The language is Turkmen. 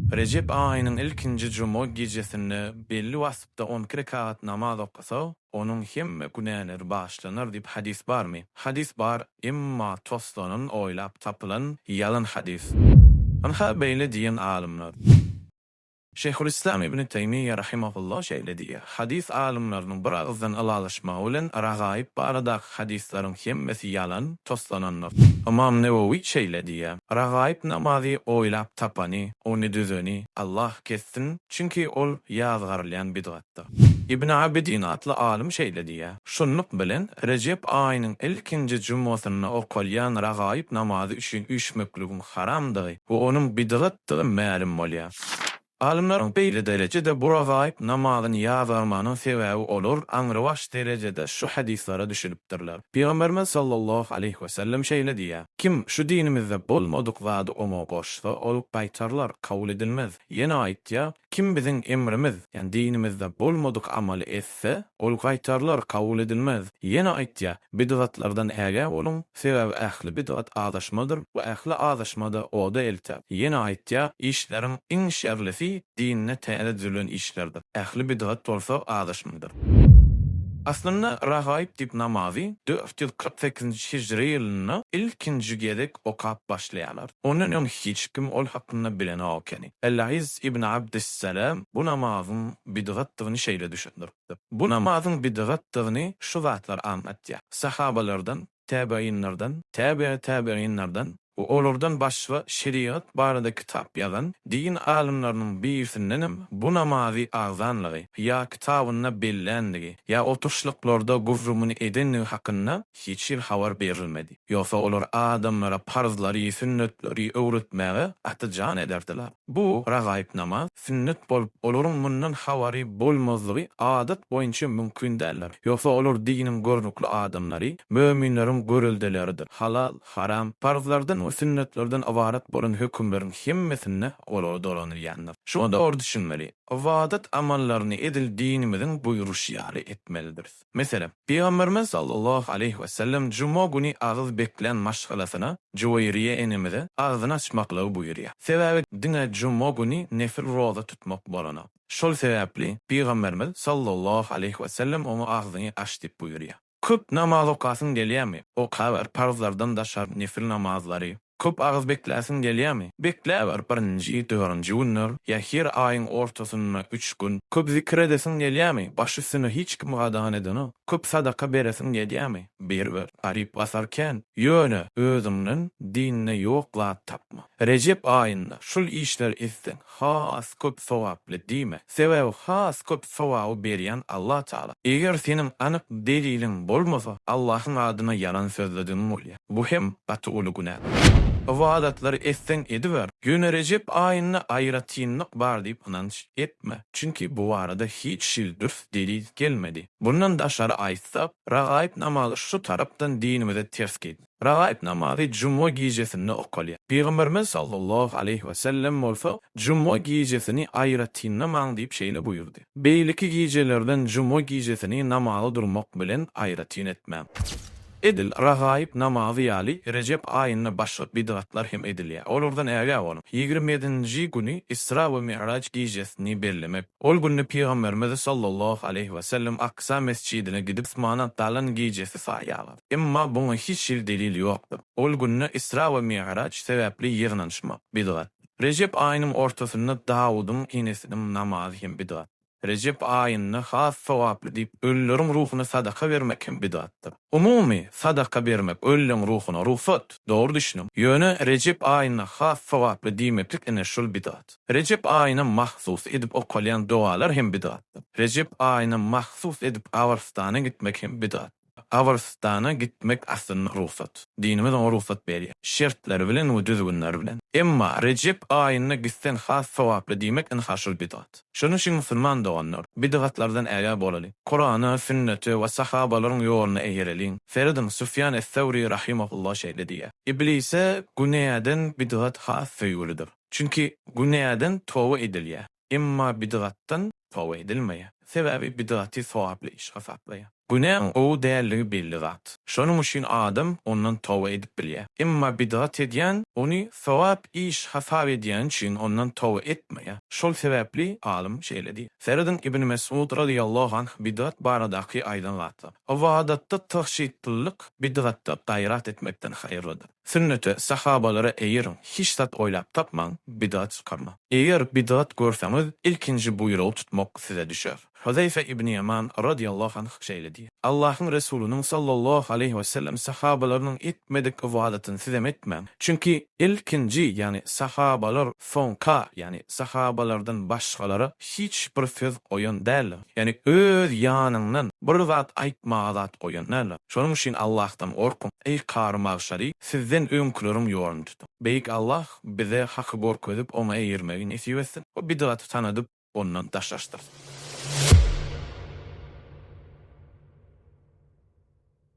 Rejep aýynyň ilkinji juma gijesinde belli wagtda on iki rekat namaz okasa, onuň hemme günäleri bagyşlanar diýip hadys barmy? Hadys bar, emma toslanan, oýlap tapylan ýalan hadys. Ynha beýle diýen alymlar. Şeýhulyslam Ibni Teýmiýýe rahimehullah şeýle diýýär, Hadys alymlarynyň bir agyzdan ylalaşmagy bilen ragaib baradaky Hadyslaryň hemmesi ýalan, toslanandyr. Ymam Newewi şeýle diýýär, Ragaýyp namazy oýlap tapany, ony düzeni Allah kessin, çünki ol ýazgarylýan bidgatdyr. Ibn Abidin atly alym şeýle diýýär, Şunluk bilen, Rejep aýynyň ilkinji jumgasynda okalýan ragaýyp namazy üçin üýşmekligiň haramdygy we onuň bidgatdygy mälim bolýar. Alymlaryň beýle derejede buragaýyp namazyny ýazgarmagynyň sebäbi olar aňrybaş derejede şu hadyslara düşünipdirler. Pygamberimiz sallallahu aleýhi wesellem şeýle diýýär, Kim şu dinimizde bolmadyk zady oňa goşsa, ol gaýtarylar, kabul edilmez. Ýene aýtýar, Kim biziň emrimiz, ýagny dinimizde bolmadyk amaly etse, etse, ol gaýtarylar, kabul edilmez. Ýene aýtýar, Bidgatlardan ägä boluň, sebäbi ähli bidgat azaşmadyr we ähli azaşma-da oda elter. Ýene aýtýar, Işleriň iň şerlisi dinde täze düzülen işlerdir. Ähli bidgat bolsa azaşmadyr. Aslynda, Ragaýyp diýip namazy dört ýüz kyrk sekizinji hijri ýylynda ilkinji gezek okap başlaýarlar. Ondan öň hiç kim ol hakynda bilenok ekeni. Al-Layys ibn Abdyssalam bu namazyň bidgatdygyny şeýle düşündiripdir. Bu namazyň bidgatdygyny şu zatlar aňlatýar. Sahabalardan, täbeýinlerden, täbeýi täbeýinlerden we olardan başga şerigat barada kitap ýazan din alymlarynyň birisindenem bu namazy agzanlygy ýa kitabynda bellänligi ýa oturyşlyklarda gürrüňini edendigi hakynda hiç hili habar berilmedi. Ýogsa olar adamlara parzlary, sünnetleri öwretmäge gaty jan ederdiler. Bu ragaýyp namaz sünnet bolup, olaryň mundan habary bolmazlygy adat boýunça mümkin däldir. Ýogsa olar diniň görnükli adamlary, möminleriň göreldeleridir. Halal, haram, parzlardan we sünnetlerden ybarat bolan hökümleriň hemmesinde olar dolanylýandyr. Şuňa dogry düşünmeli. Ybadat amallaryny edil dinimiziň buýruşy ýaly etmelidiris. Meselem, Pygamberimiz sallallahu aleýhi wesellem juma güni agyz beklän maşgalasyna, Juweýriýe enemize agzyny açmaklygy buýurýar. Sebäbi diňe juma güni nefil roza tutmak bolanok. Şol sebäpli Pygamberimiz sallallahu aleýhi wesellem oňa agzyňy aç diýip buýurýar. Köp namaz okasyň gelýärmi? Okaber, parzlardan daşary nefil namazlary, Köp agyz bekläsiň gelýärmi? Bekläber birinji, dörünji günler ýa her aýyň ortasynda üç gün. Köp zikir edesiň gelýärmi? Baş üstüne hiç kim gadagan edenok. Köp sadaka beresiň gelýärmi? Beriber. Garyp basar kän. Ýöne, özüňden dinde ýok zat tapma. Rejep aýynda şul işleri etseň, has köp sogaply diýme. Sebäbi has köp sogaby berýän Allah Taala. Eger seniň anyk deliliň bolmasa, Allahyň adyna ýalan sözledigiň bolýar. Bu hem gaty uly günä. Ybadatlary etseň ediber, ýöne Rejep aýynda aýratynlyk bar diýip ynanç etme. Çünki bu barada hiç hili dürs delil gelmedi. Bundan daşary aýtsak, ragaib namazy şu tarapdan dinimize ters gelýär. Ragaýyp namazy juma gijesinde okalýar. Pygamberimiz sallallahu aleýhi we sellem bolsa, Juma gijesini aýratynlamaň diýip şeýle buýurdy. Beýleki gijelerden juma gijesini namaza durmak bilen aýratyn etmäň. Edil ragaýyp namazy ýaly Rejep aýynda başga bidgatlar hem edilýär. Olardan ägä boluň. Ýigrimi ýedinji güni Isra we Mi'raç gijesini bellemek. Ol günde Pygamberimiz sallallahu aleýhi we sellem Aksa mesjidine gidip, Usmana galan gijesi saýýarlar. Emma buňa hiç hili delil ýokdur. Ol günde Isra we Mi'raç sebäpli ýygnanyşmak, bidgat. Rejep aýynyň ortasynda Dawudyň enesiniň namazy hem bidgat. Rejep aýynda has sogaply diýip, ölüleriň ruhuna sadaka bermek hem bidgatdyr. Umumy, sadaka bermek ölüleň ruhuna rugsat, dogry düşüniň. Ýöne Rejep aýynda has sogaply diýmeklik ine şul bidgat. Rejep aýyna mahsus edip okalýan dogalar hem bidgatdyr. Rejep aýyna mahsus edip gabrystana gitmek hem bidgat. Gabrystana gitmek aslynda rugsat. Dinimiz oňa rugsat berýär. Şertleri bilen we düzgünleri bilen. Emma Rejep aýynda gitseň has sogaply diýmek ine ha şul bidgat. Şonuň üçin musulman doganlar, bidgatlardan ägä bolalyň. Kurana, sünnete we sahabalaryň ýoluna eýereliň. Serediň, Sufýan es-Sawri rahimehullah şeýle diýýär, Iblise günäden bidgat has söýgülidir. Çünki günäden toba edilýär. Emma bidgatdan toba edilmeýär. Sebäbi bidgaty sogaply iş hasaplaýar. Günäň gowy däldigi belli zat. Şonuň üçin adam ondan toba edip bilýär. Emma bidgat edýän ony sogap iş hasap edýäni üçin ondan toba etmeýär. Şol sebäpli alym şeýle diýýär, Serediň Ibn Mes'ud razyýallahu anh bidgat baradaky aýdan zatlar, Ybadatda tygşytlylyk bidgatda gaýrat etmekden haýyrlydyr. Sünnete, sahabalara eýeriň, hiç zat oýlap tapmaň, bidat çykarmaň. Eger bidat görseňiz, ilkinji buýrugy tutmak size düşer. Huzaýfa ibn Ýaman radiyallahu anh şeýle diýýär, Allahyň Resulynyň sallallahu aleýhi we sellem sahabalarynyň etmedik ybadatyny sizem etmäň. Çünki ilkinji, ýagny sahabalar, soňka, ýagny sahabalardan başgalara hiç bir söz goýan däldir. Ýagny öz ýanyňdan bir zat aýtmaga zat goýan däl. Şonuň üçin Allahdan gorkuň, eý Kary Magşary, sizden öňküleriň ýoluny tutuň. Beýik Allah bize haky görkezip oňa eýermegi nesip etsin we bidgaty tanadyp ondan daşlaşdyrsyn.